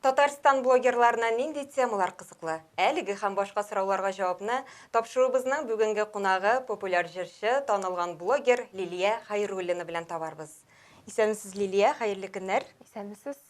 Татарстан блогерларына нинди темалар кызыклы? Әлеге һәм башка сорауларга җавапны тапшыруыбызның бүгенге кунагы, популяр җырчы, танылган блогер Лилия Хәйруллина белән табарбыз. Исәнмесез, Лилия, хәерле көннәр. Исәнмесез.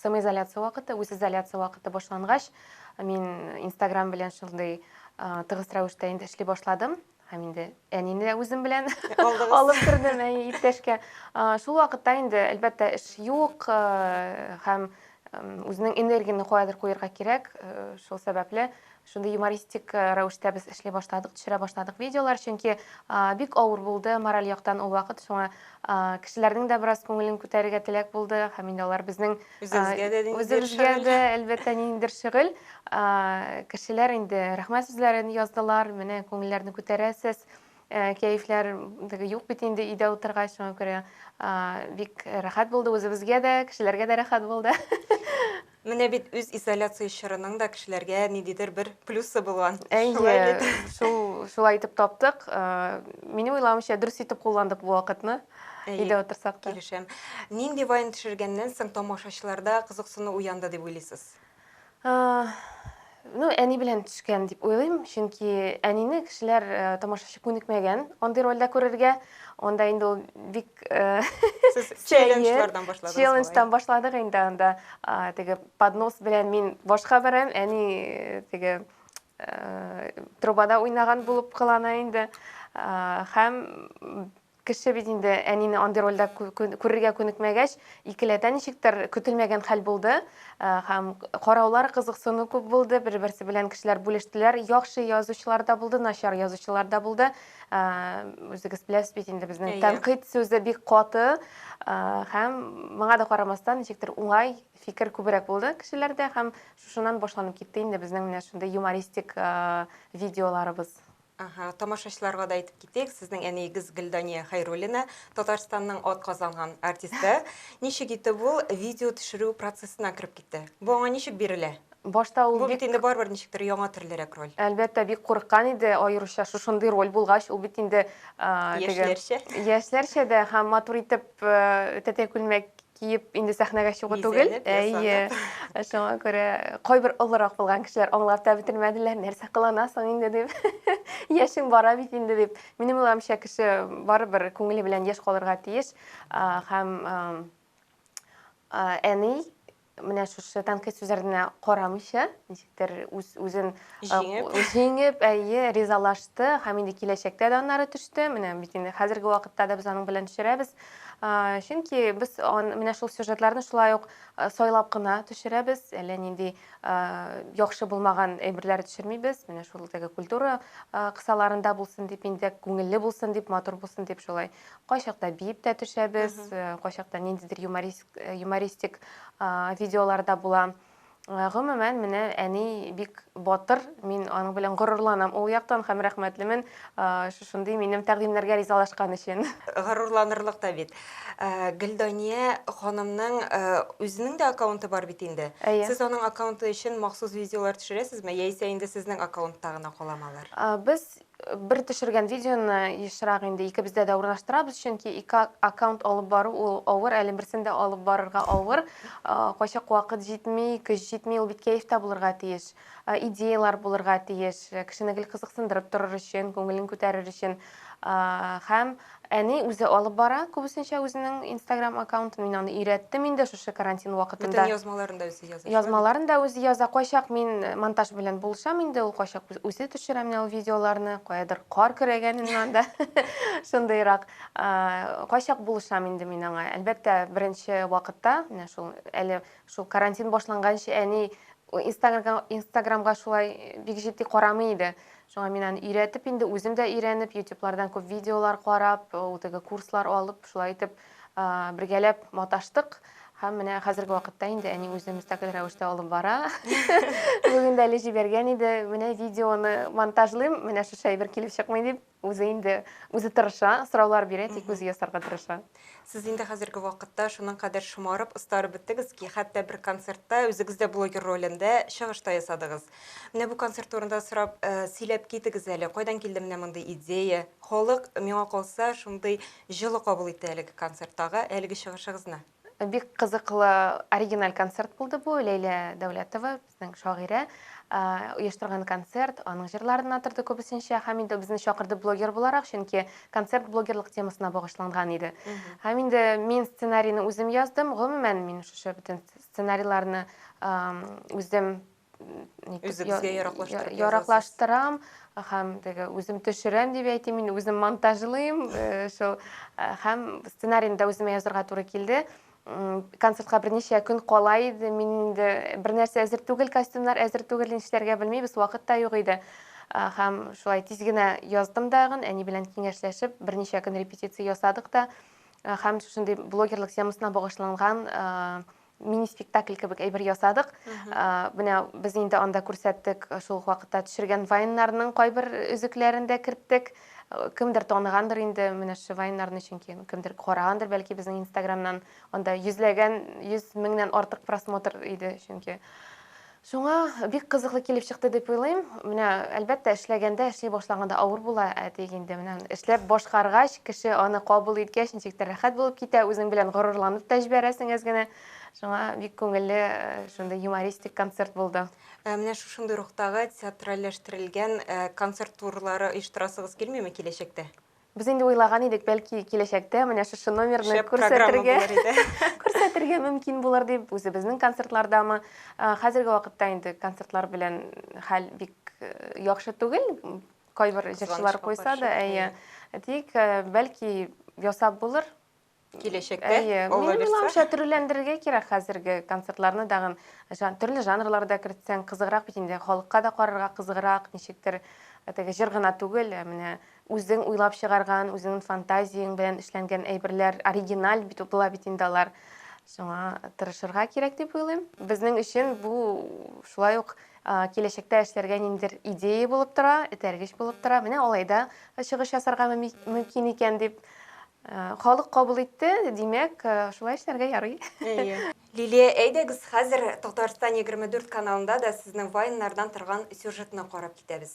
Самоизоляция вакыты, үзизоляция вакыты башлангач, мин Инстаграм белән шундый тыгыз рәвештә инде эшли башладым һәм инде әнине дә үзем белән алып кердем әй иптәшкә шул вакытта инде әлбәттә эш юк һәм үзенең энергияне каядыр куярга кирәк шул сәбәпле Шундый юмористик рәвештә без эшли башладык, төшерә башладык видеолар, чөнки бик авыр булды мораль яктан ул вакыт. Шуңа кешеләрнең дә бераз күңелен күтәрергә теләк булды, һәм инде алар безнең үзебезгә дә ниндидер шөгыль. Үзебезгә дә, әлбәттә, ниндидер шөгыль. Кешеләр инде рәхмәт сүзләрен яздылар, менә күңелләрне күтәрәсез, кәефләр юк бит инде өйдә утыргач, шуңа күрә бик рәхәт булды, үзебезгә дә, кешеләргә дә рәхәт булды. Менә бит үз изоляция чорының да кешеләргә ниндидер бер плюсы булган. Шулай бит. Шул, шулай итеп таптык. Минем уйлавымча, дөрес итеп кулландык бу вакытны. Өйдә утырсак та. Килешәм. Нинди вайн төшергәннән соң тамашачыларда кызыксыну уянды дип уйлыйсыз? Ну, әни белән төшкән дип уйлыйм, чөнки әнине кешеләр, тамашачы күнекмәгән андый рольдә күрергә. Анда инде ул бик Сез челленджлардан башладыгыз. Челлендждан башладык инде анда. Теге поднос белән мин башка барам, әни теге трубада уйнаган булып кылана инде. Һәм Кеше бит инде әнине андый рольдә күрергә күнекмәгәч, икеләтә ничектер көтелмәгән хәл булды һәм караулар, кызыксыну күп булды, бер-берсе белән кешеләр бүлештеләр, яхшы язучылар да булды, начар язучылар да булды. Үзегез беләсез бит инде безнең тәнкыйть сүзе бик каты һәм моңа да карамастан, ничектер уңай фикер күбрәк булды кешеләрдә һәм шушыннан башланып китте инде безнең менә шундый юмористик видеоларыбыз. Әһә, тамашачыларга да әйтеп китик, сезнең әниегез Гөлдания Хәйруллина, Татарстанның атказанган артисты. Ничек итеп ул видео төшерү процессына кереп китте? Бу аңа ничек бирелә? Башта ул бик... Бу бит инде барыбер ничектер яңа төрлерәк роль. Әлбәттә, бик курыккан иде, аеруча шушындый роль булгач, ул бит инде... Яшьләрчә. Яшьләрчә дә һәм матур итеп тәтәй күлмәк киеп инде сәхнәгә чыгу түгел. Әйе. Шуңа күрә кайбер олырак булган кешеләр аңлап та бетермәделәр, нәрсә кыланасың инде дип. Яшең бара бит инде дип. Минем уйлавымча, кеше барыбер күңеле белән яшь калырга тиеш. Һәм әни менә шушы тәнкыйть сүзләренә карамыйча, кемнәрдер үз үзен җиңеп, җиңеп, әйе, ризалашты һәм инде киләчәктә дә аннары төште. Менә бит инде хәзерге вакытта да без аның белән төшерәбез. Чөнки без менә шул сюжетларны шулай ук сайлап кына төшерәбез. Әллә нинди яхшы булмаган әйберләр төшермибез. Менә шул теге культура кысаларында булсын дип инде күңелле булсын дип, матур булсын дип шулай. Кайчакта биеп тә төшәбез, кайчакта ниндидер юмористик юмористик видеоларда була. Э, гомумән менә әни бик батыр мин аның белән горурланам ул яктан һәм рәхмәтлемен э, шушындый минем тәкъдимнәргә ризалашкан өчен горурланырлык та бит э, гөлдания ханымның үзенең дә аккаунты бар бит инде әйе сез аның аккаунты өчен махсус видеолар төшерәсезме яисә инде сезнең аккаунтта гына каламалар? алар без Бер төшергән видеоны ешрак инде икебездә дә урнаштырабыз, чөнки ике аккаунт алып бару ул авыр, әле берсен дә алып барырга авыр. Кайчак вакыт җитми, көч җитми, ул бит кәефтә булырга тиеш. Идеялар булырга тиеш, кешене гел кызыксындырып торыр өчен, күңелен күтәрер өчен. Һәм Әни үзе алып бара күбесенчә үзенең инстаграм аккаунтын. Мин аны өйрәттем инде шушы карантин вакытында. Бөтен язмаларын да үзе яза. Язмаларын да үзе яза. Кайчак мин монтаж белән булышам инде, ул кайчак үзе төшерә менә ул видеоларны, каядыр кар көрәгәнен анда, шундыйрак. Кайчак булышам инде мин аңа. Әлбәттә, беренче вакытта, менә шул әле шул карантин башланганчы әни инстаграмга шулай бик җитди карамый иде. Шуңа мин аны өйрәтеп инде, үзем дә өйрәнеп, ютюблардан күп видеолар карап, ул теге курслар алып, шулай итеп бергәләп маташтык. Һәм менә хәзерге вакытта инде әни үзе мөстәкыйль рәвештә алып бара. Бүген дә әле җибәргән иде, менә видеоны монтажлыйм, менә шушы әйбер килеп чыкмый дип, үзе инде үзе тырыша, сораулар бирә, тик үзе ясарга тырыша. Сез инде хәзерге вакытта шуның кадәр шомарып, остарып беттегез ки, хәтта бер концертта үзегез дә блогер ролендә чыгыш та ясадыгыз. Менә бу концерт турында сорап, э, сөйләп китегез әле, кайдан килде менә мондый идея? Халык, миңа калса, шундый җылы кабул итте әлеге концерттагы, әлеге чыгышыгызны. Бик кызыклы, оригиналь концерт булды бу. Ләйлә Дәүләтова Ның шагыйре оештырган концерт, аның җырларына торды күбесенчә, һәм инде безне чакырды блогер буларак, чөнки концерт блогерлык темасына багышланган иде. Һәм инде мин сценарийны үзем яздым, гомумән мин шушы бөтен сценарийларны үзем Үзегезгә яраклаштырып яраклаштырам һәм теге үзем төшерәм дип әйтим мин үзем монтажлыйм шул һәм сценарийны да үземә язырга туры килде концертка берничә көн кала иде мин инде бернәрсә әзер түгел костюмнар әзер түгел нишләргә белмибез вакыт та юк иде һәм шулай тиз генә яздым дагын әни белән киңәшләшеп берничә көн репетиция ясадык та һәм шушындый блогерлык темасына багышланган мини спектакль кебек әйбер ясадык менә без инде анда күрсәттек шул ук вакытта төшергән вайннарның кайбер өзекләрен дә керттек Кемдер таныгандыр инде менә Шивайнарны, чөнки кемдер карагандыр бәлки безнең инстаграмнан. Анда йөзләгән, йөз меңнән артык просмотр иде, чөнки. Шуңа бик кызыклы килеп чыкты дип уйлыйм. Менә, әлбәттә, эшләгәндә, эшли башлаганда авыр була, ә тик инде менә эшләп башкаргач, кеше аны кабул иткәч, ничек тә рәхәт булып китә, үзең белән горурланып та җибәрәсең әз генә. Шуңа бик күңелле шундый юмористик концерт булды. Ә менә шушындый рухтагы театральләштерелгән э, концерт турлары оештырасыгыз килмиме киләчәктә? Без инде уйлаган идек, бәлки киләчәктә менә шушы номерны Шәп программа күрсәтергә, булыр иде. күрсәтергә мөмкин булыр дип, үзебезнең концертлардамы. Э, Хәзерге вакытта инде концертлар белән хәл бик э, яхшы түгел. Кайбер җырчылар Кызганычка куйса да, каршы, әйе. Тик э, бәлки ясап булыр. киләчәктә Әйе, алла минем бирсә. уйлавымча, төрлеләндерергә кирәк хәзерге концертларны тагын. Жан, төрле жанрлар да кертсәң, кызыграк бит инде. Халыкка да карарга кызыграк, ничектер э, теге җыр гына түгел, ә менә үзең уйлап чыгарган, үзеңнең фантазияң белән эшләнгән әйберләр, оригиналь бит була бит инде алар. Шуңа тырышырга кирәк дип уйлыйм. Безнең өчен бу шулай ук а, киләчәктә эшләргә ниндидер идея булып тора, этәргеч булып тора. Менә алайда чыгыш ясарга мөми- мөмкин икән дип Ә, Халык кабул итте, димәк, ә, шулай эшләргә ярый. Әйе. Лилия, әйдәгез, хәзер Татарстан 24 каналында да сезнең вайннардан торган сюжетны карап китәбез.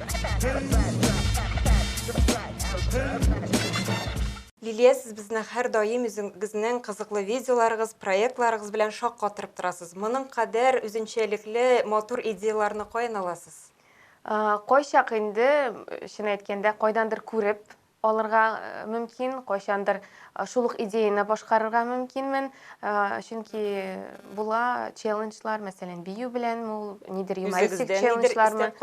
Лилия, сез безне һәрдаим үзегезнең кызыклы видеоларыгыз, проектларыгыз белән шаккатырып торасыз. Моның кадәр үзенчәлекле, матур идеяларны каян аласыз? Кайчак инде, чын әйткәндә, кайдандыр күреп, Алырга мөмкин, кайчандыр шул ук идеяне башкарырга мөмкинмен, чөнки була челленджлар, мәсәлән, бию белән ул нидер юмористик челленджлар.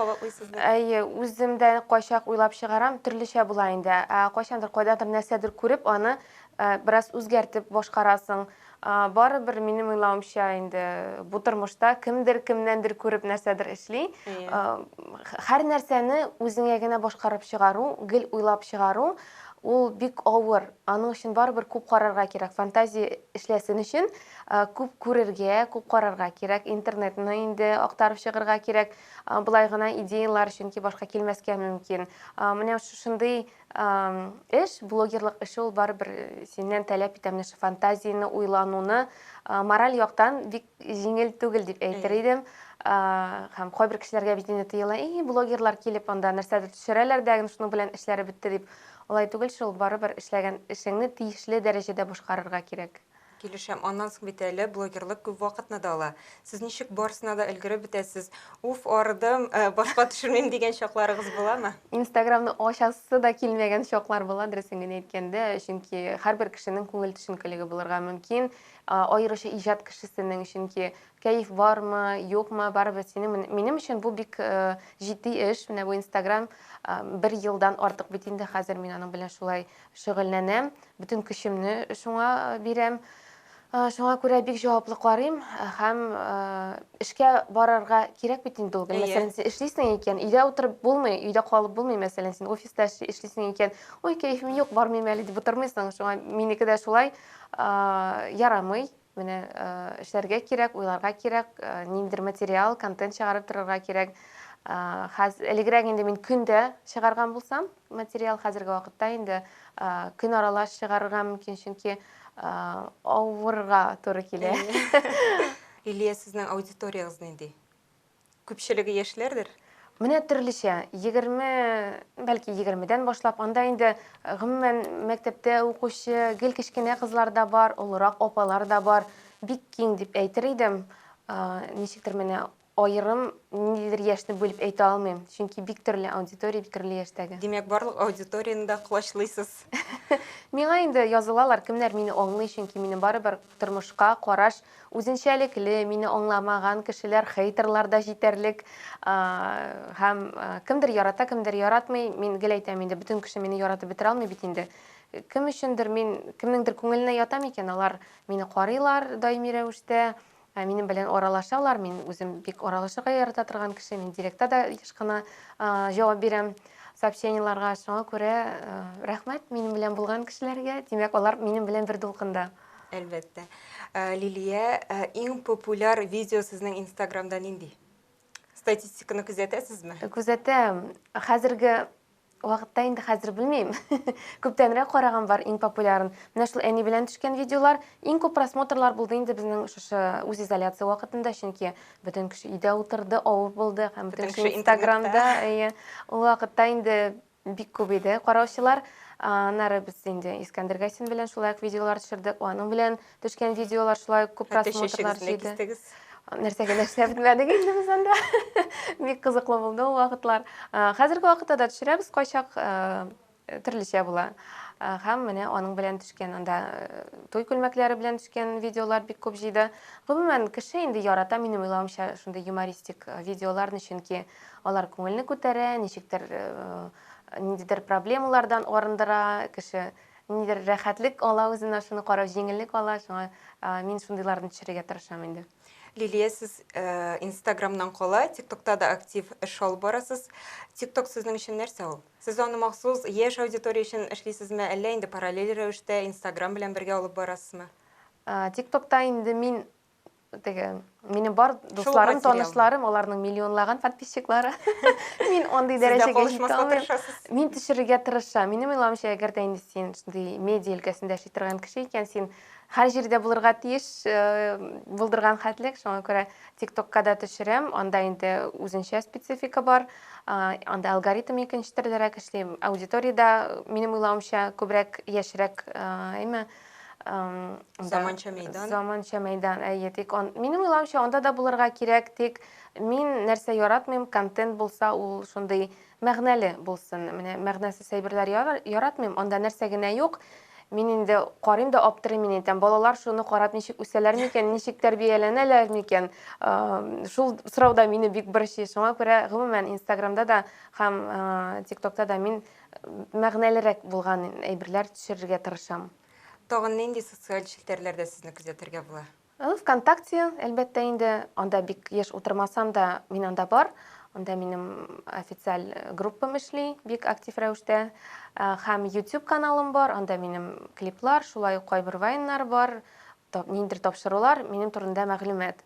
Әйе, үзем дә кайчак уйлап чыгарам, төрлечә була инде. Кайчандыр кайдадыр нәрсәдер күреп, аны бераз үзгәртеп башкарасың. Барыбер, минем уйлавымча, инде бу тормышта кемдер кемнәндер күреп нәрсәдер эшли. Һәр нәрсәне үзеңә генә башкарып чыгару, гел уйлап чыгару, ул бик авыр. Аның өчен барыбер күп карарга кирәк. Фантазия эшләсен өчен күп күрергә, күп карарга кирәк. Интернетны инде актарып чыгарга кирәк. Болай гына идеяләр, чөнки башка килмәскә мөмкин. Менә шушындый Эш, блогерлык эше ул барыбер синнән таләп итә менә шул фантазияне, уйлануны, мораль яктан бик җиңел түгел дип әйтер идем. Һәм кайбер кешеләргә бит инде тыела, и, блогерлар килеп анда нәрсәдер төшерәләр дә, шуның белән эшләре бетте дип. Алай түгел шул, барыбер эшләгән эшеңне тиешле дәрәҗәдә башкарырга кирәк. Килешәм, аннан соң бит әле блогерлык күп вакытны да ала. Сез ничек барсына да өлгереп бетәсез? Уф, арыдым, э, башка төшермим дигән чакларыгыз буламы? Инстаграмны ачасы да килмәгән чаклар була, дөресен генә әйткәндә, чөнки һәрбер кешенең күңел төшенкелеге булырга мөмкин, а, аеруча иҗат кешесенең, чөнки кәеф бармы, юкмы, барыбер синең мен- минем өчен бу бик э, җитди эш, менә бу Инстаграм э, бер елдан артык бит инде хәзер мин аның белән шулай Шөгыльләнәм, бөтен көчемне шуңа бирәм. Шуңа күрә бик җаваплы карыйм һәм эшкә барырга кирәк бит инде ул көн. Мәсәлән, син эшлисең икән, өйдә утырып булмый, өйдә калып булмый, мәсәлән, син офиста эшлисең икән, ой, кәефем юк, бармыйм әле дип утырмыйсың. Шуңа минеке дә шулай ярамый. Менә эшләргә кирәк, уйларга кирәк, ниндидер материал, контент чыгарып торырга кирәк. Хәзер элегрәк инде мин көндә чыгарган булсам, материал хәзерге вакытта инде көн аралаш чыгарырга мөмкин, чөнки авырга туры килә. Илия, сезнең аудиториягез нинди? Күпчелеге яшьләрдер? Менә төрлечә, егерме, бәлки егермедән башлап, анда инде гомумән мәктәптә укучы гел кечкенә кызлар да бар, олырак апалар да бар. Бик киң дип әйтер идем. Ничектер менә аерым ниндидер яшьне бүлеп әйтә алмыйм, чөнки бик төрле аудитория, бик төрле яшьтәге. Димәк, барлык аудиторияне дә колачлыйсыз. Миңа инде язылалар, кемнәр мине аңлый, чөнки минем барыбер Тормышка караш үзенчәлекле, мине аңламаган кешеләр, хейтерлар да җитәрлек. Һәм кемдер ярата, кемдер яратмый. Мин гел әйтәм инде, бөтен кеше мине яратып бетерә алмый бит инде. Кем өчендер мин кемнеңдер күңеленә ятам икән, алар мине карыйлар даими рәвештә, минем белән аралашалар. Мин үзем бик аралашырга ярата торган кеше, мин директта да еш кына җавап бирәм. Сообщениеларга шуңа күрә рәхмәт минем белән булган кешеләргә, димәк алар минем белән бер дулкында. Әлбәттә. Э, Лилия, э, иң популяр видео сезнең Инстаграмда нинди? Статистиканы күзәтәсезме? Э, күзәтәм. Хәзерге вакытта инде хәзер белмим. Күптәнрәк караган бар иң популярын. Менә шул әни белән төшкән видеолар иң күп просмотрлар булды инде безнең шушы үз изоляция вакытында, чөнки Бөтен кеше өйдә утырды, авып булды һәм бөтен кеше Инстаграмда, әйе. Ул вакытта инде бик күп иде караучылар. Аннары без инде Искәндер Гайсин белән шулай ук видеолар төшердек. Аның белән төшкән видеолар шулай ук күп просмотрлар җыйды. Нәрсә генә эшләп бетмәдек инде без анда. Бик кызыклы булды ул вакытлар. Хәзерге вакытта да төшерәбез кайчак. Төрлечә була. Һәм менә аның белән төшкән, анда туй күлмәкләре белән төшкән видеолар бик күп җыйды. Гомумән, кеше инде ярата, минем уйлавымча, шундый юмористик видеоларны, чөнки алар күңелне күтәрә, ничектер ниндидер проблемалардан арындыра, кеше ниндидер рәхәтлек ала үзенә, шуны карап җиңеллек ала, шуңа мин шундыйларны төшерергә тырышам инде. Лилия, сез инстаграмнан кала, тиктокта да актив эш алып барасыз. Тикток сезнең өчен нәрсә ул? Сез аны махсус яшь аудитория өчен эшлисезме, әллә инде параллель рәвештә Инстаграм белән бергә алып барасызмы? Тик-токта инде мин теге, минем бар дусларым, танышларым, аларның миллионлаган подписчиклары. Мин андый дәрәҗәгә җитә алмыйм. Мин төшерергә тырышам. Минем уйлавымча, әгәр дә инде син шундый медиа өлкәсендә эшли торган кеше икән, син Һәр җирдә булырга тиеш булдырган хәтлек, шуңа күрә ТикТокка да төшерәм, анда инде үзенчә специфика бар, анда алгоритм икенче төрлерәк эшли, аудитория дә, минем уйлавымча, күбрәк яшьрәк, әйме, Заманча мәйдан. Заманча мәйдан, әйе, тик минем уйлавымча, анда да булырга кирәк, тик мин нәрсә яратмыйм, контент булса, ул шундый Мәгънәле булсын. Менә мәгънәсез әйберләр яратмыйм, анда нәрсә генә юк. Мин инде карыйм да аптырыйм, мин әйтәм, балалар шуны карап ничек үсәләр микән, ничек тәрбияләнәләр микән? Шул сорау да мине бик борчый. Шуңа күрә гомумән Инстаграмда да һәм ТикТокта да мин мәгънәлерәк булган әйберләр төшерергә тырышам. Тагын нинди социаль челтәрләрдә сезне күзәтергә була? Ы, Вконтакте, әлбәттә инде, анда бик еш утырмасам да, мин анда бар. Анда минем официаль группам эшли бик актив рәвештә. Һәм YouTube каналым бар, анда минем клиплар, шулай ук кайбер вайннар бар, ниндидер тапшырулар, минем турында мәгълүмат.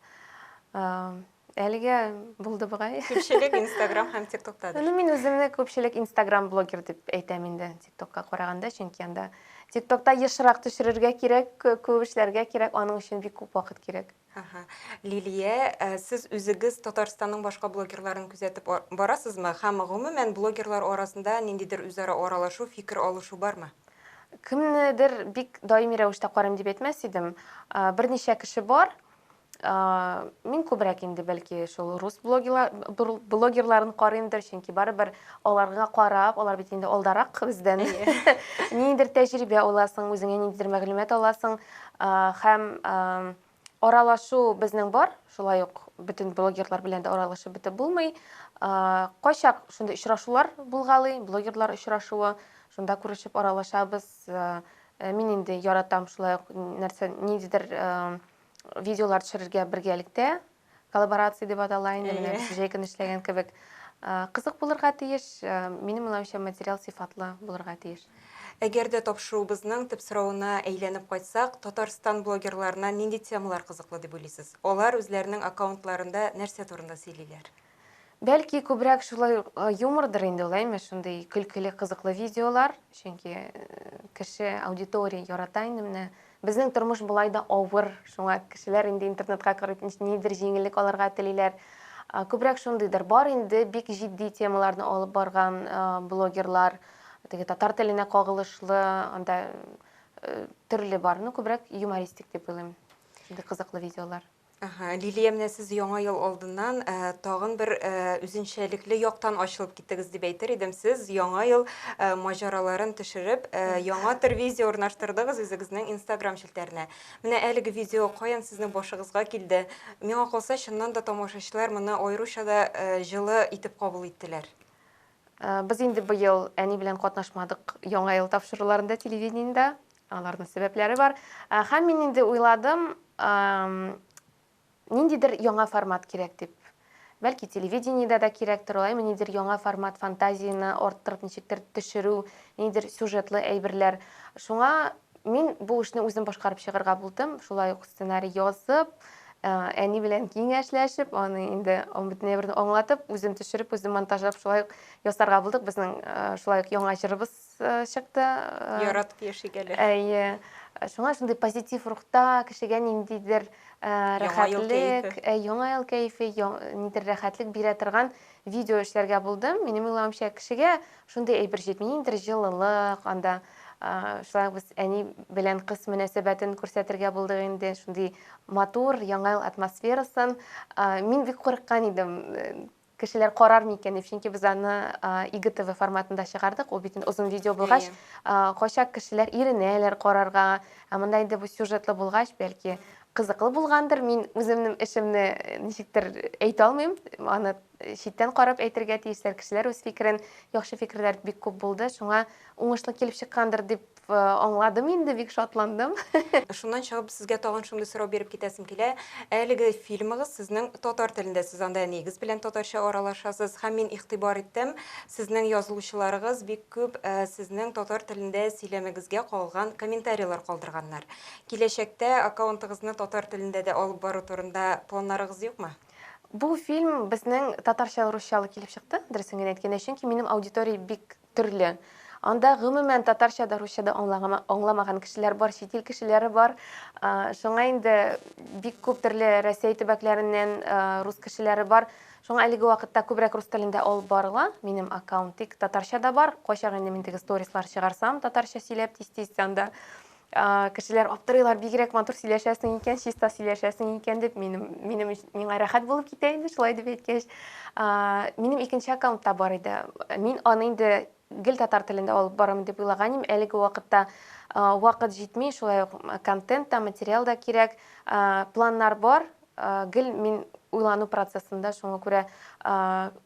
Әлегә булды бугай. Күпчелек Instagram һәм TikTokта. Ну, мин үземне күпчелек Instagram блогер дип әйтәм инде, TikTokка караганда, чөнки анда TikTokта ешрак төшерергә кирәк, күп эшләргә кирәк, аның өчен бик күп вакыт кирәк. Ага. Лилия, э, сез үзегез Татарстанның башка блогерларын күзәтеп барасызмы? Һәм гомумән блогерлар арасында ниндидер үзара аралашу, фикер алышу бармы? Кемнедер бик даими рәвештә карыйм дип әйтмәс идем. Э, берничә кеше бар, Мин күбрәк инде бәлки шул рус блогерларын карыймдыр, чөнки барыбер аларга карап, алар бит инде алдарак бездән. Ниндидер тәҗрибә аласың, үзеңә ниндидер мәгълүмат аласың һәм аралашу безнең бар, шулай ук бөтен блогерлар белән дә аралашып бетеп булмый. Кайчак шундый очрашулар булгалый, блогерлар очрашуы, шунда күрешеп аралашабыз. Мин инде яратам шулай ук нәрсә, ниндидер Видеолар төшерергә бергәлектә, коллаборация дип атала инде, менә без җәй көне эшләгән кебек. Кызык булырга тиеш, минем уйлавымча, материал сыйфатлы булырга тиеш. Әгәр дә тапшыруыбызның төп соравына әйләнеп кайтсак, Татарстан блогерларына нинди темалар кызыклы дип уйлыйсыз? Алар үзләренең аккаунтларында нәрсә турында сөйлиләр? Бәлки күбрәк шулай юмордыр инде ул, әйме, шундый көлкеле, кызыклы видеолар, чөнки кеше, аудитория ярата инде менә. Безнең тормыш болай да авыр, шуңа кешеләр инде интернетка кереп нидер җиңеллек алырга телиләр. Күбрәк шундыйдыр. Бар инде бик җитди темаларны алып барган блогерлар, теге татар теленә кагылышлы, анда төрле бар. Ну, күбрәк юмористик дип уйлыйм. Шундый кызыклы видеолар. Ага, Лилия, менә сез яңа ел алдыннан ә, тагын бер ә, үзенчәлекле яктан ачылып киттегез дип әйтер идем. Сез яңа ел ә, маҗараларын төшереп, ә, яңа төр видео урнаштырдыгыз үзегезнең Instagram челтәренә. Менә әлеге видео каян сезнең башыгызга килде? Миңа калса, чыннан да тамашачылар моны аеруча да ә, җылы итеп кабул иттеләр. Без инде быел әни белән катнашмадык Яңа ел тапшыруларында телевидениедә. Аларның сәбәпләре бар. Һәм мин инде уйладым, ниндидер яңа формат кирәк дип. Бәлки телевидениедә дә кирәктер алай, ниндидер яңа формат, фантазияне арттырып ничектер төшерү, ниндидер сюжетлы әйберләр. Шуңа Мин бу эшне үзем башкарып чыгарга булдым. Шулай ук сценарий язып, э, әни белән киңәшләшеп, аны инде аны бөтенләй берне аңлатып, үзем төшереп, үзем монтажлап шулай ук ясарга булдык. Безнең э, шулай ук яңа җырыбыз э, чыкты. Э, Яратып яшик әле. Әйе. Шуңа шундый позитив рухта, кешегә ниндидер э, Яңа ел рәхәтлек, кәефе. э, яңа ел кәефе, яң- нидер рәхәтлек бирә торган Видео эшләргә булдым. Минем уйлавымча, кешегә шундый әйбер җитми, ниндидер җылылык анда. Шулай ук без әни белән кыз мөнәсәбәтен күрсәтергә булдык инде, шундый матур Яңа ел атмосферасын. Мин бик курыккан идем, кешеләр карар микән дип, чөнки без аны ИГТВ форматында чыгардык, ул бит озын видео булгач, кайчак кешеләр иренәләр карарга, ә монда инде бу сюжетлы булгач, бәлки Кызыклы булгандыр, мин үземнең эшемне ничектер әйтә алмыйм, аны читтән карап әйтергә тиешләр, кешеләр үз фикерен, яхшы фикерләр бик күп булды, шуңа уңышлы килеп чыккандыр дип аңладым инде, бик шатландым. Шуннан чыгып, сезгә тагын шундый сорау биреп китәсем килә. Әлеге фильмыгыз сезнең татар телендә, сез анда әниегез белән татарча аралашасыз һәм мин игътибар иттем, сезнең язылучыларыгыз бик күп сезнең татар телендә сөйләмегезгә кагылган комментарийлар калдырганнар. Киләчәктә аккаунтыгызны татар телендә дә алып бару турында планнарыгыз юкмы? Бу фильм безнең татарча-русчалы килеп чыкты, дөресен генә әйткәндә, чөнки минем аудитория бик төрле. Анда гомумән татарча да, русча да аңламаган кешеләр бар, чит ил кешеләре бар. Шуңа инде бик күп төрле Рәсәй төбәкләреннән рус кешеләре бар. Шуңа әлеге вакытта күбрәк рус телендә алып барыла минем аккаунт. Тик татарча да бар. Кайчак инде мин теге сторислар чыгарсам, татарча сөйләп тиз-тиз анда Кешеләр аптырыйлар, бигрәк матур сөйләшәсең икән, чиста сөйләшәсең икән дип, минем, минем миңа рәхәт булып китә инде, шулай дип әйткәч. Минем икенче аккаунт та бар иде. Мин аны инде гел татар телендә алып барам дип уйлаган идем. Әлеге вакытта вакыт җитми, шулай ук контент та, материал да кирәк. Планнар бар, Гел мин уйлану процессында, шуңа күрә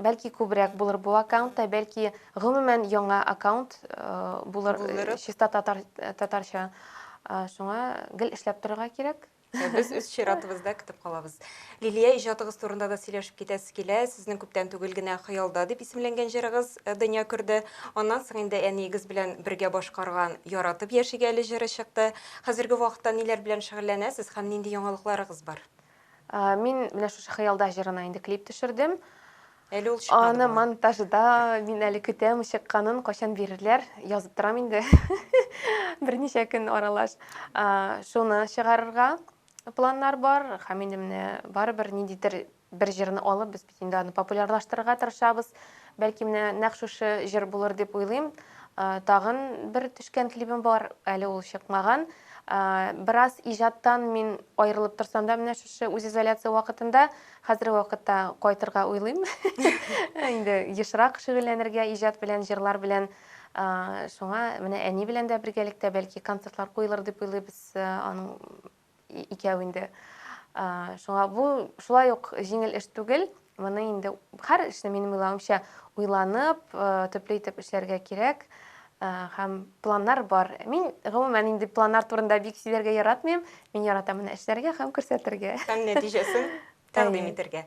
бәлки күбрәк булыр бу аккаунтта, бәлки гомумән яңа аккаунт булыр чиста татар татарча. Шуңа гел эшләп торырга кирәк. Без үз чиратыбызда көтеп калабыз. Лилия, иҗатыгыз турында да сөйләшеп китәсе килә. Сезнең күптән түгел генә Хыялда дип исемләнгән җырыгыз дөнья күрде. Аннан соң инде әниегез белән бергә башкарган Яратып яшигәле җыры чыкты. Хәзерге вакытта ниләр белән шөгыльләнәсез һәм нинди яңалыкларыгыз бар? Мин менә шушы Хыялда җырына инде клип төшердем. Әле ул чыкмады Аны бугай. монтажда мин әле көтәм чыкканын, кайчан бирерләр, язып торам инде. Берничә көн аралаш. Шуны чыгарырга планнар бар һәм инде менә барыбер ниндидер Бер җырны алып, без бит инде аны популярлаштырырга тырышабыз. Бәлки менә нәкъ шушы җыр булыр дип уйлыйм. Тагын бер төшкән клибым бар, әле ул чыкмаган. Бераз иҗаттан мин аерылып торсам да, менә шушы үзизоляция вакытында, хәзерге вакытта кайтырга уйлыйм. Инде ешрак шөгыльләнергә иҗат белән, җырлар белән. Шуңа менә әни белән дә бергәлектә бәлки концертлар куелыр дип уйлыйбыз. Аның икәү инде. Шуңа бу шулай ук җиңел эш түгел. Моны инде һәр эшне минем уйлавымча уйланып, төпле итеп эшләргә кирәк һәм планнар бар. Мин гомумән инде планнар турында бик сөйләргә яратмыйм. Мин яратам менә эшләргә һәм күрсәтергә. Һәм нәтиҗәсен тәкъдим итәргә.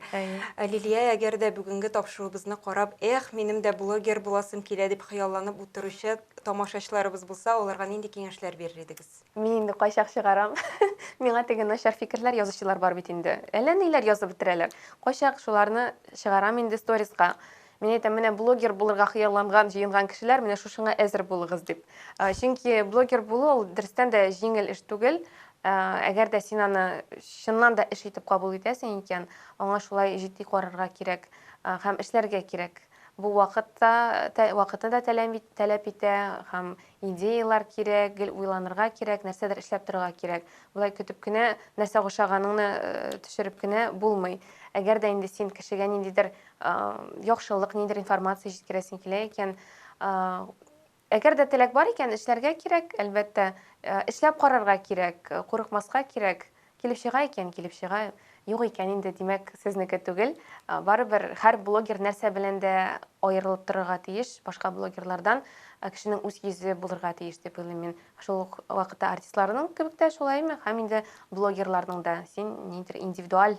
Лилия, әгәр дә бүгенге тапшыруыбызны карап, эх, минем дә блогер буласым килә дип хыялланып утыручы тамашачыларыбыз булса, аларга нинди киңәшләр бирер идегез? Мин инде кайчак чыгарам. Миңа теге начар фикерләр язучылар бар бит инде. Әллә ниләр язып бетерәләр. Кайчак шуларны чыгарам инде сториска. Мин әйтәм, менә блогер булырга хыялланган, җыенган кешеләр, менә шушыңа әзер булыгыз дип. Чөнки блогер булу ул дөрестән дә җиңел эш түгел. Әгәр дә син аны чыннан да эш итеп кабул итәсең икән, аңа шулай җитди карарга кирәк һәм эшләргә кирәк. Бу вакыт та, вакытны да таләп итә һәм идеялар кирәк, гел уйланырга кирәк, нәрсәдер эшләп торырга кирәк. Болай көтеп кенә нәрсә ошаганыңны төшереп кенә булмый. Әгәр дә инде син кешегә ниндидер яхшылык, ниндидер информация җиткерәсең килә икән, әгәр дә теләк бар икән, эшләргә кирәк, әлбәттә, эшләп карарга кирәк, курыкмаска кирәк. Килеп чыга икән, килеп чыга, юк икән инде, димәк, сезнеке түгел. Барыбер һәр блогер нәрсә белән дә аерылып торырга тиеш, башка блогерлардан кешенең үз йөзе булырга тиеш дип уйлыйм мин. Шул ук вакытта артистларның кебек тә шулаймы? Һәм инде блогерларның да син ниндидер индивидуаль